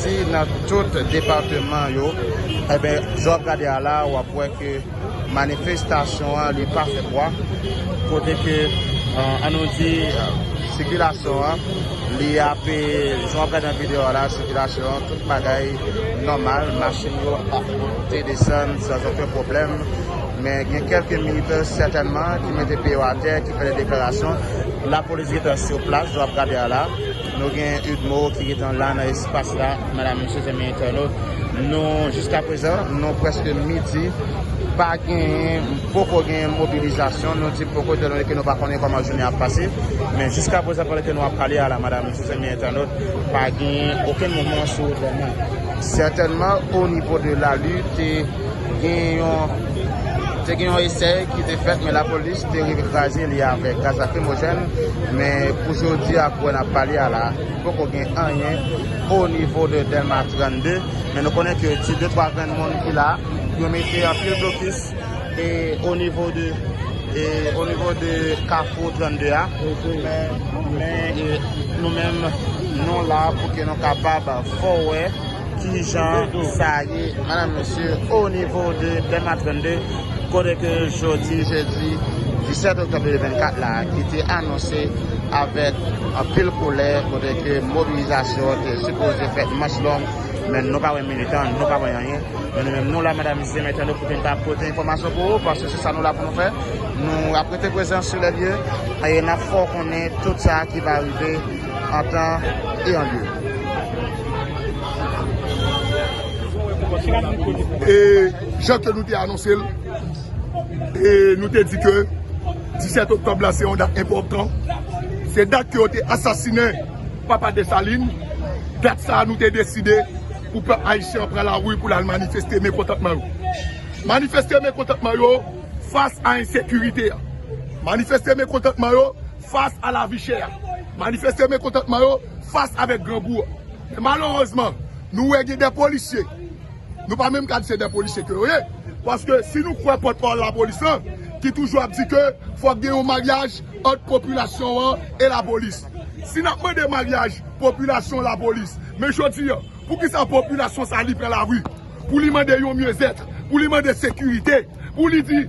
Si nan tout depateman yo, enben jan w ap gade a la a, w ap wè ke manifestasyon an li pa fè pwa, kote ke an nou di sikilasyon an li ape, jan w ap gade nan videyo a la a, sikilasyon an tout bagay nòmal, machin yo ap monte desann san zoken pwoblèm, men gen kèlke militè sètènman ki mete pye yo atè, ki fè de deklarasyon, lapolis gentan sou plas jan w ap gade a la a. Nou gen Udmo ki gentan la nan espas la, madam, mesye, zanmi entènot. Nou, jiska prezan, nou prèske midi, pa genyen, poko genyen mobilizasyon. Nou di poko etandone ke nou pa konnen kòman jounen an ap pase. Men jiska prezan pandan ke nou ap pale a la, madam, mesye, zanmi entènot, pa genyen okenn mouvman sou Dèlma. Sètènman, onivo de lalu te. gen yon te gen yon esèy ki te fèt men lapolis te rive kraze li avèk gaz lakrimojèn men pou jodi a pou wè nap pale a la poko gen anyen o nivo de dèlma 32 men nou konnen ke ti 2 3 grenn moun ki la yo mete anpil blokis e o nivo de e o nivo de kafou 32 a men nou menm nou la pou ke nou kapab fò wè Kijan sa ye madam mesye o nivo de dema 32 kote ke jodi jedi 17 oktòb 2024 la ki te anonse avèk anpil kolè kote ke mobilizasyon te sipoze fèt manch long men nou pa wè militan nou pa wè anyen men nou menm nou la madam mesye mèt annou pou te ka pote enfòmasyon pou ou paske se sa nou la pou nou fè nou ap rete prezan sou lè lye e nap fè w konnen tout sa ki va rive. ata e andeyò. E jan ke nou te anonse l, e nou te di ke 17 oktòb la se yon dat enpòtan, se dat ke yo te asasine papa Desalin, dat sa nou te deside pou pèp ayisyen pran la ri pou l al manifeste mekontantman yo. Manifeste mekontantman yo fas a ensekirite a. Manifeste mekontantman yo. Fas a lavi chè a, manifeste mekontantman yo fas avèk grangou an. Men malerezman, nou wè gen de polisye, nou pa menm ka di se de polisye ke yo ye, paske si nou kwè pòtpawòl lapolis lan, ki toujou ap di ke fòk gen yon maryaj ant popilasyon an e lapolis. Si n ap mande maryaj popilasyon-lapolis, men jodi an, poukisa popilasyon sa li pran lari? Pou li mande yon mieux etre, pou li mande sekirite, pou li di,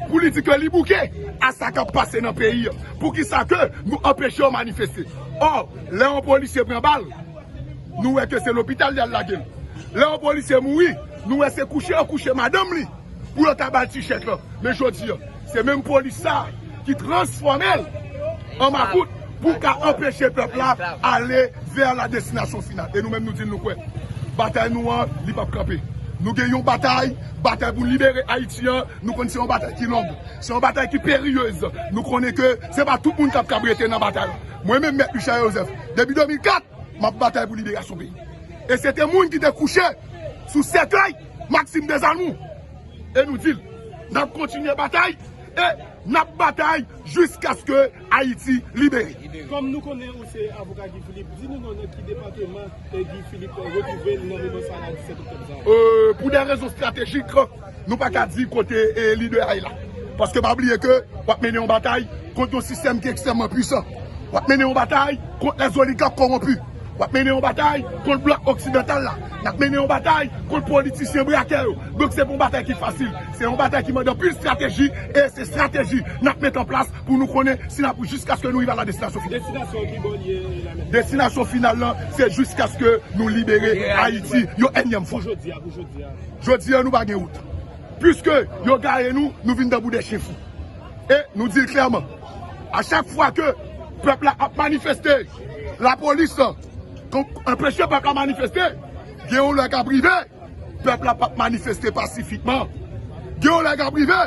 pou li di ke li bouke a sa kap pase nan peyi an. Pou ki sa ke nou anpeche yo manifeste. Or, lè yon polisye pran bal, nou wè ke se lopital yal lage l. Lè yon polisye mouri, nou wè se kouche yo kouche madanm li pou yo ka bal ti chèk lan. Men jodi an. Se menm polis sa ki transfòmel an makout pou ka anpeche pèp la ale vè la destinasyon final. E nou menm nou di nou kwè batay nou an li pap kanpe. Nou gen yon batay, batay pou libere Ayiti an, nou konnen se yon batay ki long, se yon batay ki peryez, nou konnen ke se pa tout moun kap kab rete nan batay la. Mwen menm mèt Michel Joseph depi 2004 map batay pou liberasyon peyi. E se te moun ki te kouche sou sèkèy Maxime Desalmou. e nou di l n ap kontinye batay e n ap batay jiskaske Ayiti libere. Kòm nou konnen ou se avoka Guy Philippe, di nou non nan ki depateman Guy Philippe retwouve l nan moman sa la 17 oktòb sa a? Pou dè rezon estratejik, nou pa ka di kote lidè a ye la. Paske pa bliye ke w ap mennen yon batay kont yon sistèm ki ekstrèmman pwisan. W ap mennen yon batay kont lèzoligak kowonpi. Wap mennen yon batay kont blòk oksidantal la. Nap mennen yon batay kont politisyen brakè yo. Donk se pa yon batay ki fasil. Se yon batay ki mande anpil strateji e se strateji nap met an plas pou nou konnen si nap rive jiskaske nou rive a la destinasyon final. Destinasyon ki bò li ye la mèt? Destinasyon final lan se jiskaske nou libere Ayiti yon ènyèm fwa. Pou jodi a, pou jodi a. Jodi a nou pa gen wout. Piske yo gaye nou, nou vin tankou 2 chen fou. E nou di l klèman, a chak fwa ke pèp la ap manifeste. La polis enpeche pèp la manifeste, gen yon lè kap rive pèp la pap manifeste pasifikman, gen yon lè kap rive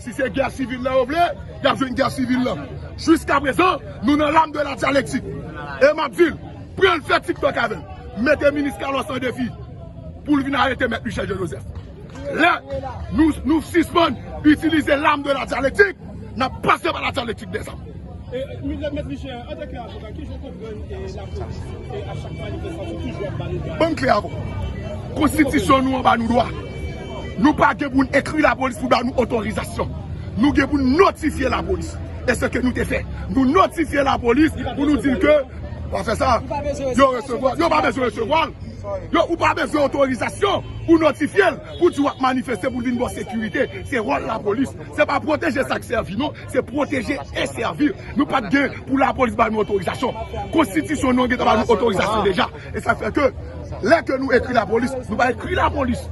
si se gè sivil la yo vle yap jwenn gè sivil la, jiska prezan nou nan lame de la dyalektik e map dil pran fè tiktok avèm mete minis Carlos an defi poul vin arete mèt Michel Jean Joseph. Lè nou sispann itilize l arme de la dyalektik, n ap pase pa la dyalektik de zam. Ban m kle avoka. Konstitisyon nou an ba nou dwa. Nou pa gen pou n ekri lapolis pou ba nou otorizasyon. Nou gen pou n notifye lapolis. E se ke nou te fè. Nou notifye lapolis pou nou di l ke. Yo pa bezwen resevwa l. Yo ou pa bezwen otorizasyon pou notifye l pou di wap manifeste pou l vin ba w sekirite se wòl lapolis se pa pwoteje sak sèvi non se pwoteje e sèvi nou pat gen pou lapolis ba nou otorizasyon konstitisyon nou an gentan ba nou otorizasyon deja e sa fè ke lè ke nou ekri lapolis nou pa ekri lapolis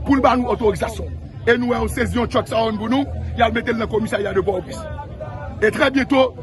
pou l ba nou otorizasyon e nou wè yo sezi yon tchòk sa yo pou nou yal mete l nan komisarya de pòtoprens e trè byento.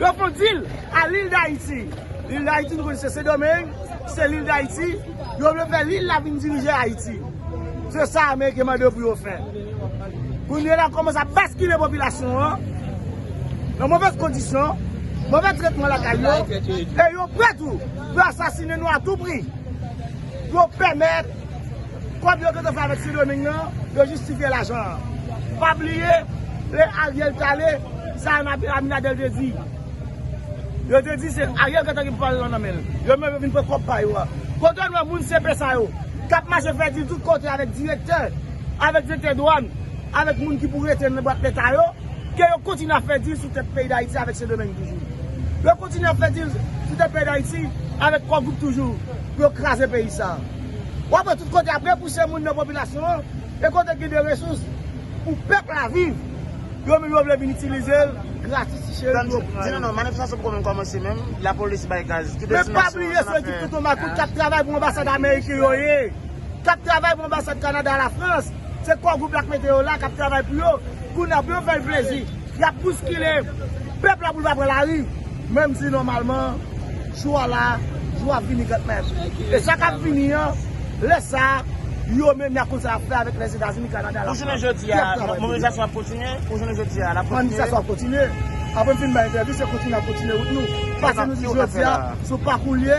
Yo konn dil a lil dayiti. Lil dayiti nou konn se sendomeng, se lil dayiti. Yo vle fè lil la vin dirije ayiti. Se sa ameriken mande yo pou yo fè. Kounye la komanse ap baskile popilasyon an nan movèz kondisyon, movèz tretman lakay yo. E yo pre tou pou asasine nou a tou pri. Pou yo pèmèt. Kòb yo gentan fè avèk Sendoming nan, yo jistifye lajan an. Pa bliye, lè Ariel t ale, sa Anabel Aminadel te di? Yo te di se Ariel gentan gen pouvwa lajan nan men l. Yo menm yo vin pran kòb pa yo a. Kote nou wè moun CP sa yo, k ap mache fè dil tout kote avèk direktè, avèk direktè dwàn, avèk moun ki pou rete nan bwat Leta yo, ke yo kontinye ap fè dil sou tèt peyi Dayiti avèk Sendomeng toujou? Yo kontinye ap fè dil sou tèt peyi Dayiti avèk Kò Gwoup toujou pou yo kraze peyi sa a? Wap wè tout kote yap repouse moun nan popilasyon an e kote gen de resous pou pèp la viv yo menm yo vle vin itilize l gratis ti cheri yo pran yo. Men pa bliye se ekip tonton makout kap travay pou anbasad ameriken yo ye kap travay pou anbasad kanada la frans se kò gwoup la k mete yo la kap travay pou yo kounye a pou yo fè l plezi. Y ap bouskile pèp la pou l pa pran lari, menm si nòmalman jou a la, jou a vini kantmenm. E sa k ap vini an, lè sa a, yo menm y ap konn sa y ap fè avèk Lèzetazini, Kanada, Lafrans. Pou jounen jodi a, mobilizasyon an ap kontinye? Pou jounen jodi a, l ap kontinye? Manifestasyon an ap kontinye. Apre m fin bay entèvyou, se kontinye n ap kontinye wout nou. Pase nou di jodi a, sou pakou l ye.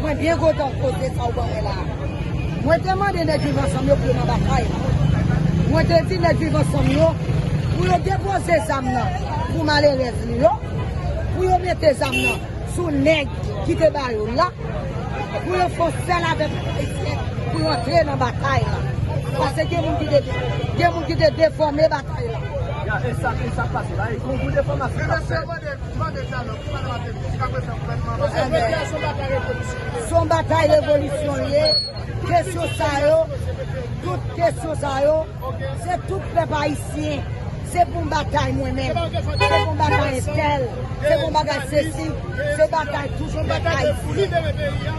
Mwen byen kontan pote sa ou ban mwen la a. Mwen te mande nèg Viv Ansanm yo pou yo nan ba kay la. Mwen te di nèg Viv Ansanm yo pou yo depoze zam nan pou malerèz li yo, pou yo mete zam nan sou nèg ki te ba yo l la, pou yo fè yon sèl avèk pèp ayisyen pou yo antre nan batay la. Pase gen moun ki te gen moun ki te defòme batay la. Ya, e sa, e sa k pase la? E gwo gwo defòmasyon k ap fèt. Son batay revolisyon li ye, kesyon sa yo, tout kesyon sa yo, se tout pèp ayisyen, se pou m batay mwen menm, se pou m batay entèl, se pou m batay sesi, se batay tout pèp ayisyen.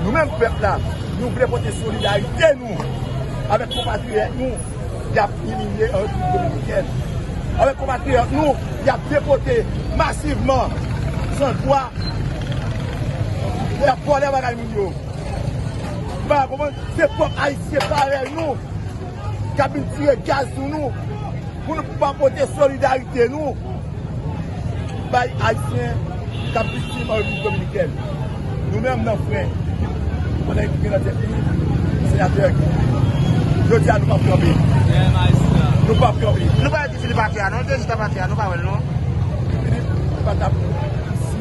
Nou menm pèp la, nou vle pote solidarite nou avèk konpatriyòt nou y ap imilye an Repiblik Dominikèn, avèk konpatriyòt nou y ap depote masivman san dwa, y ap vòlè bagay moun yo. Nou pa ka konprann, se pwòp Ayisyen parèy nou. k ap vin tire gaz sou nou pou nou pa pote solidarite nou bay Ayisyen k ap viktim an Repiblik Dominikèn. Nou menm nan fren, nou menm ki gen nan tèt nou Senatè Guy Philippe, jodi a nou p ap kanpe. Nou p ap kanpe. Nou pa wè Guy Philippe atè a non, l te jis ap atè a, nou pa wè l non. Guy Philippe pa t ap.